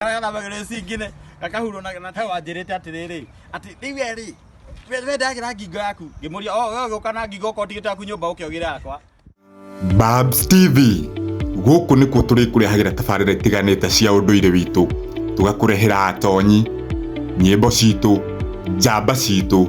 karĩa gathagĩrĩ cingine gakahurwo na na hewa njĩrĩte atĩrĩrĩ atĩ rĩu we rĩ we- we ndagĩra ngingo yaku ngĩmũria o we ũgĩũka na ngingo okorwo ndigĩte yaku nyũmba ũke ũgĩre yakwa Babs TV gũkũ nĩkuo tũrĩkũrehagĩra tabarĩra itiganĩte cia ũndũire witũ tũgakũrehera atonyi nyĩmbo citũ njamba citũ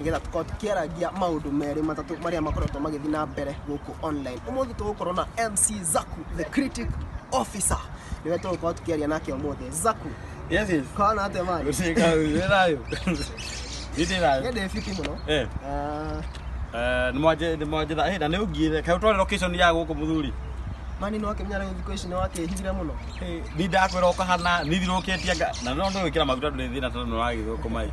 nĩgetha tũkorwo tũkĩarangia maũndũ merĩ matatũ marĩa makoretwo magĩthiĩ na mbere gũkũ online ũmũthĩ tũgũkorwo na mc zaku the critic officer nĩwe tũgũkorwo tũkĩaria nake ũmũthĩ zaku Yes, yes. kwana atĩa mani Ushika ushirayo. Ndirayo. nĩndĩ fiti mũno Eh. Ah, Eh, ni mwaje ni mwaje da. Eh, na ni ugire. Ka utware location ya guku muthuri. mani nĩ wakĩmenya rĩu thikũ ici nĩ wakĩhithire mũno Eh, ni ndakwira ukahana ni thiruketie anga. Na no ndo wikira maguta nduri thina tondu ni wagithwo kumai.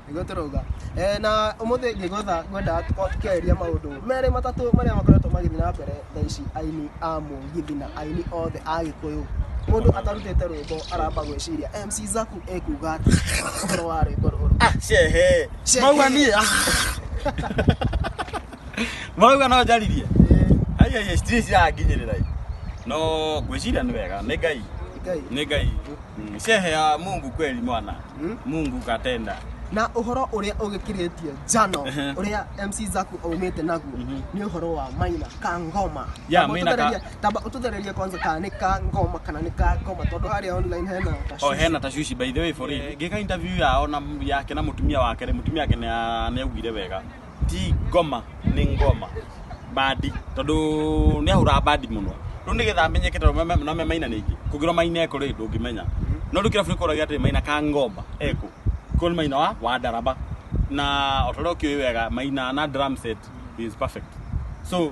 nĩguo tũrauga Eh, na ũmũthĩ ngĩgwetha ngwendaga tũkorwo tũkĩarĩria maũndũ merĩ matatũ marĩa makoretwo magĩthiĩ na mbere thaa ici aini a mũgithi na aini othe a gĩkũyũ mũndũ atarutĩte rwĩmbo aramba gwĩciria mc zaku ekuga atĩ ũhoro wa rwĩmbo rũrũ Shehe. Shehe. Mauga niĩ. Mauga no njaririe. Ai ai stress yanginyirira. No ngwĩciria nĩ wega. Nĩ Ngai. Ngai. Nĩ Ngai. Mm, Shehe ya Mungu kweli mwana. mungu katenda na uhoro uria ugikiritie njano Ehe. uria mc zaku aumite naguo ni uhoro wa maina ka ngoma Yeah, Tamba Maina ka- ũtũthererie- tamba ututhererie kwanza kana ni ka ngoma kana ni ka ngoma tondu haria online hena o tashwishi. hena tashushi by the way for real ngika interview yao na yake na mutumia wake rĩ, mutumia wake nĩ- nĩaugire wega ti ngoma nĩ ngoma bandi tondũ nĩ ahũraga bandi mũno rĩu nĩ getha amenyeke tondũ me- me- no me maina ningĩ kũngĩrwo maina eko rĩ ndũngĩmenya no rĩu kĩrabu nĩ kũragia atĩ maina ka ngomba eko ko nĩ maina wa wa ndaraba na o ta ũrĩa ũkĩũĩ wega maina na drum set is perfect so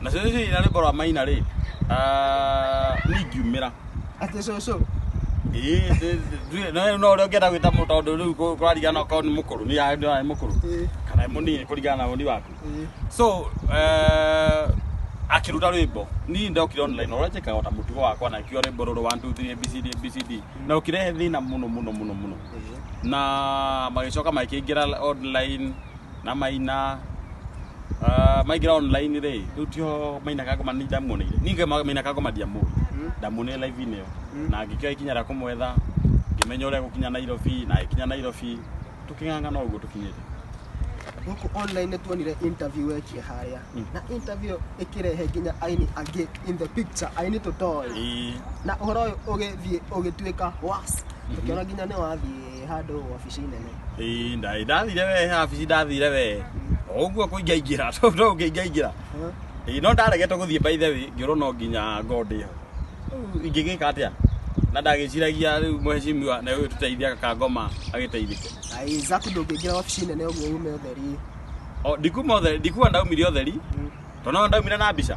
na cũcũ ici na rwĩmbo rwa maina rĩ ah, niĩ ngiumĩra Atĩ cũcũ. Ĩĩ, ndĩ- ndĩ- no- no ũrĩa ũngĩenda gwĩta mũ- tondũ rĩu kũ- kũrarigana okorwo nĩ mũkũrũ nĩ ya- nĩ ya- nĩ mũkũrũ Ĩĩ, kana nĩ mũnini kũringana na ũni waku ĩĩ. so eh, akĩruta rwĩmbo niĩ ndokire online ũrĩa njĩkaga ota mũtugo wakwa na ngiuga rwĩmbo rũrũ 1 2 3 abcd abcd na ũkĩrehe thĩna mũno mũno mũno mũno na magĩcoka makĩingĩra online na maina ah, maingira online ri riu tio mainaga ngoma ni ndamuoneire ninge mainaga ngoma ndiamuwi ndamuonire live inio na ngikioa ikinya ria kumwetha ngimenya uria gukinya Nairobi na ikinya Nairobi tuking'ang'ana uguo tukinyite Huku online nĩ tuonire interview wekie harĩa. Mm. Na interview ĩkĩrehe nginya aini angĩ in the picture, aini tũtoĩ. Ĩĩ. Na ũhoro ũyũ ũgĩthiĩ ũgĩtuĩka worse. Tũkĩona nginya nĩ wathiĩ Ĩ handũ wabici nene. Ĩĩ, nda- ndathire we habici ndathire we o ũguo kũingaingĩra to to ũkĩingaingĩra Huh? Ĩĩ, no ndaregete gũthiĩ by the way ngĩũrwo no nginya ngondĩ ho Rĩu ingĩgĩka atĩa na ndagĩciragia rĩu mheshimiwa na ũyũ tũteithia gakangoma agĩteithĩke Ai, Zaku ndũngĩingĩra wabici nene ũguo ume ũtheri. O, ndikuma ũtheri ndikuma ndaumire ũtheri Mm. tondũ no ndaumire na mbica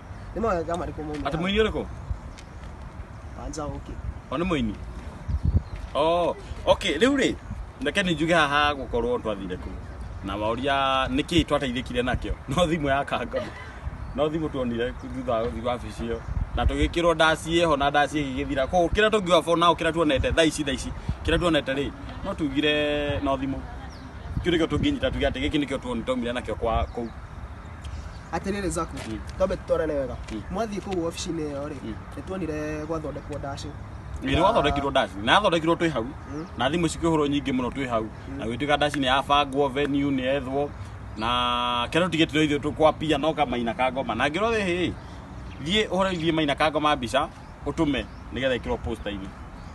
nĩ mawega marĩkũ maumire Atĩ mũini ũrĩkũ? wanja ũkĩ O nĩ mũini. Oh, okay, rĩu rĩ, reke nĩ njuge haha gũkorwo twathire kũ. Na waũria nĩ kĩĩ twateithĩkire nakĩo? No thimũ ya kanga. No thimũ tuonire thutha wa gũthiĩ wabici ĩyo. Na tũgĩkĩrwo ndaci ĩho na ndaci ĩgĩgĩthira. Koguo kĩrĩa tũngiuga for now kĩrĩa tuonete thaa ici thaa ici. Kĩrĩa tuonete rĩ, no tugire no thimũ. Kĩu nĩkĩo tũngĩnyita tuge atĩ gĩkĩ nĩkĩo tuonire twaumire nakĩo kwa kũu. atĩrĩrĩ zako Mm. twambe tũtwarane wega Mm. mwathiĩ kũu wabici-inĩ ĩyo rĩ Mm. nĩ tuonire gwathondekwo ndacĩ nĩ gwathondekirwo ndaci na yathondekirwo twĩ hau Mm. na thimũ cikĩhũrwo nyingĩ mũno twĩ hau na gwĩtuĩka ndaci nĩ yabangwo venue nĩ yethwo na kĩrĩa tũtigĩtire ithuĩ tũkwapia no kamaina ka ngoma na ngĩrwo ĩ thiĩ ũhoro ithiĩ maina ka ngoma mbica ũtũme nĩgetha ĩkĩrwo posta-inĩ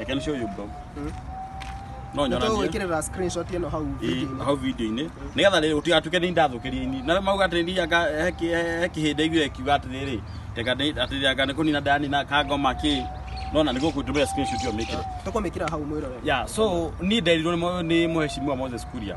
I can show you bro no nyona Nĩtũĩ niĩ gwĩkĩrĩra screenshot ĩno hau Ĩ, video-inĩ. hau video-inĩ nĩgetha rĩrĩ ũtigatuke nĩ ndathũkĩria ini na mauga atĩ ndianga he kĩhĩndĩ aiguire akiuga atĩrĩrĩ teka atĩrĩanga nĩ kũnina ndanina ka ngoma kĩ nona nĩ gũkũndũmĩra screenshot ĩyo mĩkĩre Tũkũmĩkĩra hau mwĩrorere. yeah so niĩ nderirwo nĩ mũ- nĩ mũheshimiwa Moses Kuria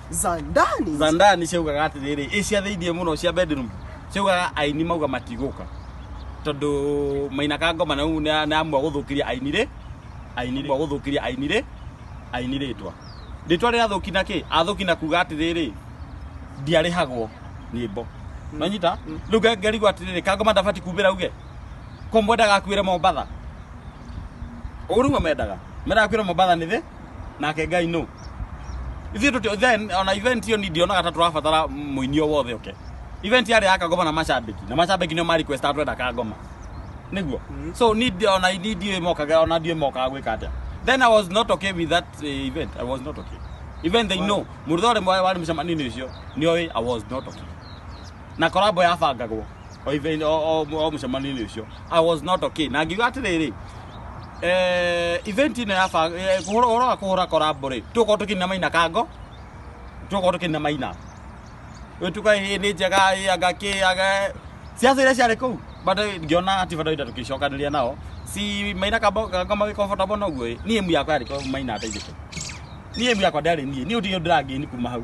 za ndani za ndani ciaugaga atĩrĩrĩ ĩ cia thĩinĩ mũno cia bedroom ciaugaga aini mauga matigũka tondũ mainaka ngoma na rĩu nĩamua gũthũkĩria aini rĩ aini rĩ gũthũkĩria aini rĩ aini rĩtwa rĩtwa rĩa thũki na kĩ athũki na kuga atĩrĩrĩ ndiarĩhagwo nyĩmbo nonyita rĩu nga- ngarigwo atĩrĩrĩ kangoma ndabati kumbĩra uge ko mwendaga akuĩre mombatha ũguo nĩguo mendaga mendaga akuĩre mombatha nĩ thĩ nake ngai no ithuĩ tũtio then ona event iyo ni ndionaga ta tũrabatara mũini o wothe oke event yarĩ ya kangoma na macambĩki na macambĩki nĩo ma request atwenda kangoma nĩguo so ni ndi- ona ni ndiũĩ mokaga ona ndiũĩ mokaga gwĩka atĩa then i was not okay with that eh, event i was not okay even they know mũrutho ũrĩa warĩ mũcemanio-inĩ ũcio nĩoĩ i was not okay na korambo yabangagwo o ithe- o- o- o mũcemanio-inĩ ũcio i was not okay na ngiuga atĩrĩrĩ eh, event ĩno ya bang- eh, kũhũra- ũhoro wa kũhũra korambo rĩ tũkorwo tũkĩnina maina kango tũkorwo tũkĩnina maina wĩtuka hĩ nĩ njega hĩ anga kĩ anga ciaca iria ciarĩ kũu bado ngĩona ati bado ita tũkĩcokanĩria nao si maina kamba magĩ comfortable noguo ĩ niĩ emu yakwa yarĩ ko- maina ateithĩke niĩ emu yakwa ndarĩ niĩ niĩ ũtige ndĩrangĩni kuma hau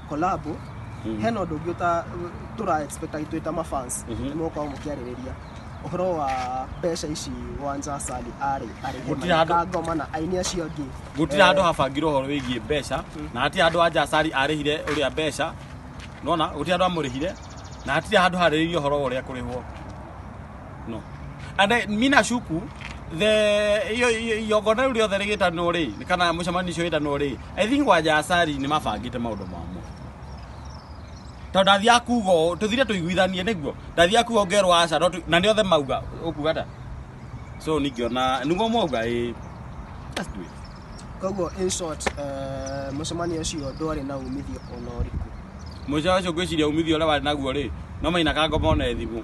collab hena ũndũ ũngĩ ũta- tũra expect agitwĩ ta mafans nĩ mũgũkorwo mũkĩarĩrĩria ũhoro wa mbeca ici wanja sali arĩ Gũtirĩ handũ- arĩhe ngoma na aini acio angĩ gutira handu habangirwo horo wigie mbeca na hatire handu anja sari arihire uria mbeca nona gutira handu amurihire na hatire handu hariririo horo wa uria kurihwo no and I- mi nashuku the iyo- iyo- igongona rĩu rĩothe rĩgĩtanwo rĩ kana mũcemanio ũcio wĩtanwo rĩ i think wanja acari nĩ mabangĩte maũndũ mamo tondũ ndathiaga kuga ũũ, tũthire tũiguithanie nĩguo ndathiaga kuga ngerwo aca no tũ- na nĩ othe mauga ũkuga ta so ningĩona niguo mwauga ĩ Let's do it. koguo in short eh, mũcemanio ũcio ndwarĩ na umithio ona ũrĩkũ mũico ũcio ngwĩciria umithio ũrĩa warĩ naguo rĩ no maina kangoma ona thimũ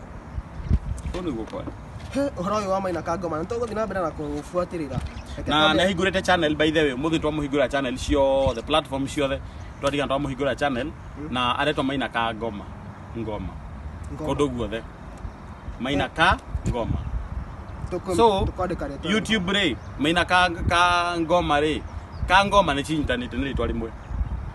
Kũu nĩguo kwa. He, ũhoro ũyũ wa maina kangoma nĩ tũgũthiĩ na mbere na kũbuatĩrĩra Reke na twambe- nahingũrĩte channel by the way mũthĩ twamũhingũra channel ciothe platform ciothe twatigana twamũhingũra channel na aretwa maina ka ngoma ngoma Ngoma. kũndũ guothe maina ka ngoma Tũkũ- so tũkwandĩka rĩtwa rĩu. youtube rĩ maina ka, ka ngoma rĩ ka ngoma nĩ cinyitanĩte nĩ rĩtwa rĩmwe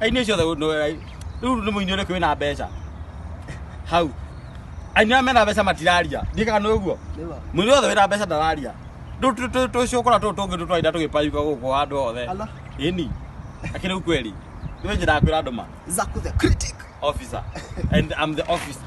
Aini ũcio the no rĩu nĩ mũini ũrĩkũ wĩna mbeca hau aini arĩa mena mbeca matiraria ndikaga nĩ ũguo Nĩma. mũini wothe wĩna mbeca ndararia Tũ- tũ- tũ- tũcũkũra tũu tũngĩ tũtwainda tũgĩpayuka gũkũ handũ hothe Ala. ĩni akĩrĩ kweli nĩwe njĩra kwĩra andũ ma Zaku the critic. officer and I'm the officer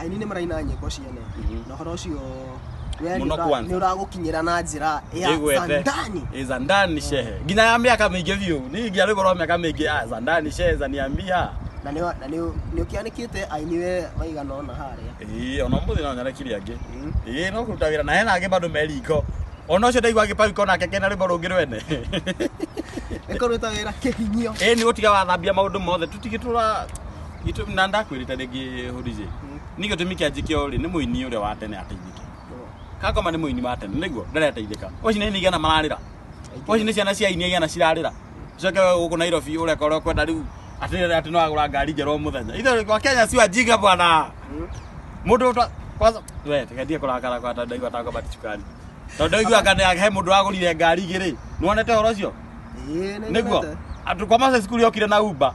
aini nĩ maraina nyĩmbo cia ne Mhm. na ũhoro ũcio we nĩ Mũno ũra- kwanza. nĩ ũragũkinyĩra na njĩra ya Ĩgwete. zandani Eh, za ndani shehe nginya ya miaka mingi biu ni nginya rä korwo miaka mingi ah, za ndani shehe za niambia na nĩ wa- na nĩ ũ- nĩ ũkĩanĩkĩte aini we maigana ona harĩa ä ona må thä no nyarekire angä Mm. ä no kå ruta wä ra na hena angä bandå meriko ona å cio ndaigua agä pagiko nake kena rä mbo rå ngä rwene ĩkorwo ĩta wĩra kĩhinyio ä nä gå tiga wathambia maå ndå mothe tå tigä tå ra Gĩtũ- na ndakwĩrĩte rĩngĩ hũrije nĩ gĩtũmi kĩa njĩke ũrĩ nĩ mũini ũrĩa wa tene ateithĩke kangoma nĩ mũini wa tene nĩguo ndareteithĩka ũci nĩ nigana mararĩra ũci nĩ ciana cia ini igana cirarĩra coke we gũkũ nairobi ũreka ũrĩa ũkwenda rĩu atĩ atĩ no agũra ngari njerũ o mũthenya ithe wa kenya ciwa njiga bwana mũndũ ũta kwanza we tigatie kũrakara kwa tondũ ndaigua tango bati cukari tondũ ndaigua kana he mũndũ wagũrire ngari igĩrĩ nĩwonete ũhoro ũcio nĩguo andũ kwa maca cukuru yokire na uba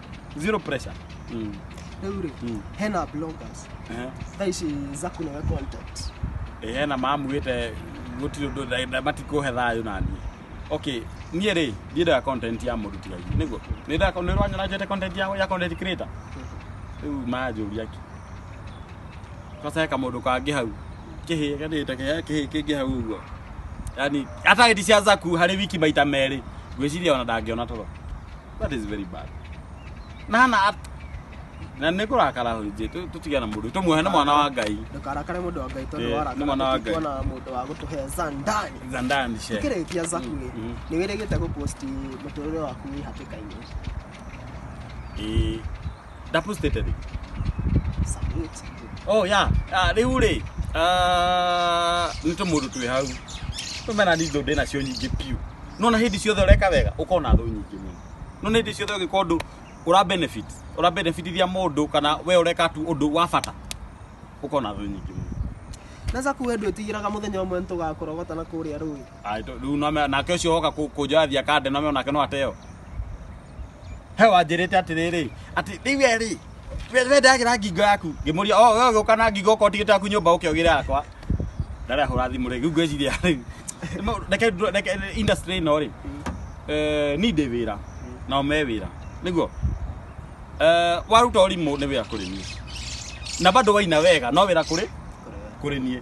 zero pressure Mm. Eure, Mm. hena bloggers. Eh. Thaa ici zaku nawe content. Eh, na mamwite gutiri undu matikuhe thayu na niĩ okay niĩ rĩ ndiendaga content ya mũndũ tiga ithuĩ nĩguo nĩndaga nĩ rwanyona njete content ya ya content creator rĩu manjũria ki kwanza he kamũndũ kangĩ hau kĩhĩ kanĩte kĩhĩ kĩhĩ kĩngĩ hau ũguo yani atageti cia zaku harĩ wiki maita merĩ ngwĩciria ona ndangĩona toro that is very bad na hana at na nä kå rakara hå njä tå tigana må ndå tå muohe nä mwana wa ngai ndũkarakare mũndũ wa ngai tondũ Eh, nĩ mwana wa warakara Ngai. tuona mũndũ wa gũtũhe zandani zandani she kĩrĩkia zaku rĩ Mm, mm. nĩ wĩrĩgĩte gũposti mũtũrĩre waku wĩ hatĩka-inĩ Ĩĩ. double stated rĩ oh yeah Ah, rĩu rĩ ah, nĩ tũmũndũ twĩ hau tũmena nĩ indo ndĩ nacio nyingĩ biũ nona hĩndĩ ciothe ũreka wega ũkona thũ nyingĩ mũno nona hĩndĩ ciothe ũgĩka ũndũ ũra benefit ũra benefitithia mũndũ kana we ũreka tu ũndũ wa bata ũkona thũ nyingĩ mũno na zaku we ndwĩtigĩraga mũthenya ũmwe nĩ tũgakorogota na kũrĩa rũĩ Ai, tũ- rĩu name- nake ũcio woka kũ- kũnjoya thiakande name onake no ateo he wanjĩrĩte atĩrĩrĩ atĩ rĩu we rĩ we we ndagĩra ngingo yaku ngĩmũria o we ũgĩũka na ngingo okorwo tigĩte yaku nyũmba ũke ũgĩre yakwa ndarĩ ahũra thimũ rĩ rĩu ngwĩciria rĩ ma- reke ndũ- reke industry ĩno rĩ eh, ni ndĩ wĩra nao me wĩra nĩguo Eh, waruta ũrimũ nĩ wĩra kũrĩ niĩ na bado waina wega no wĩra kũrĩ kũrĩ niĩ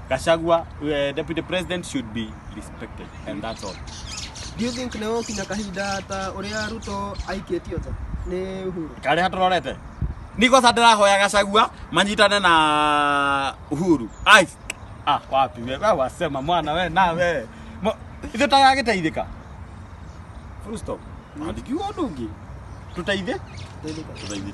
Gachagua, uh, deputy president should be respected and that's all. Do you think nĩ gũkinya kahinda ta ũrĩa Ruto aikĩtio nja nĩ Uhuru? Karĩa tũrorete. Niko sasa ndĩrahoya Gachagua manyitane na Uhuru. Ai. Ah, wapi wewe wewe wasema mwana wewe na wewe. Mo- Ithuĩ tagagĩteithĩka. Full stop. Andikiwa ndungi. Tũteithie? Tũteithĩka. Tũteithie.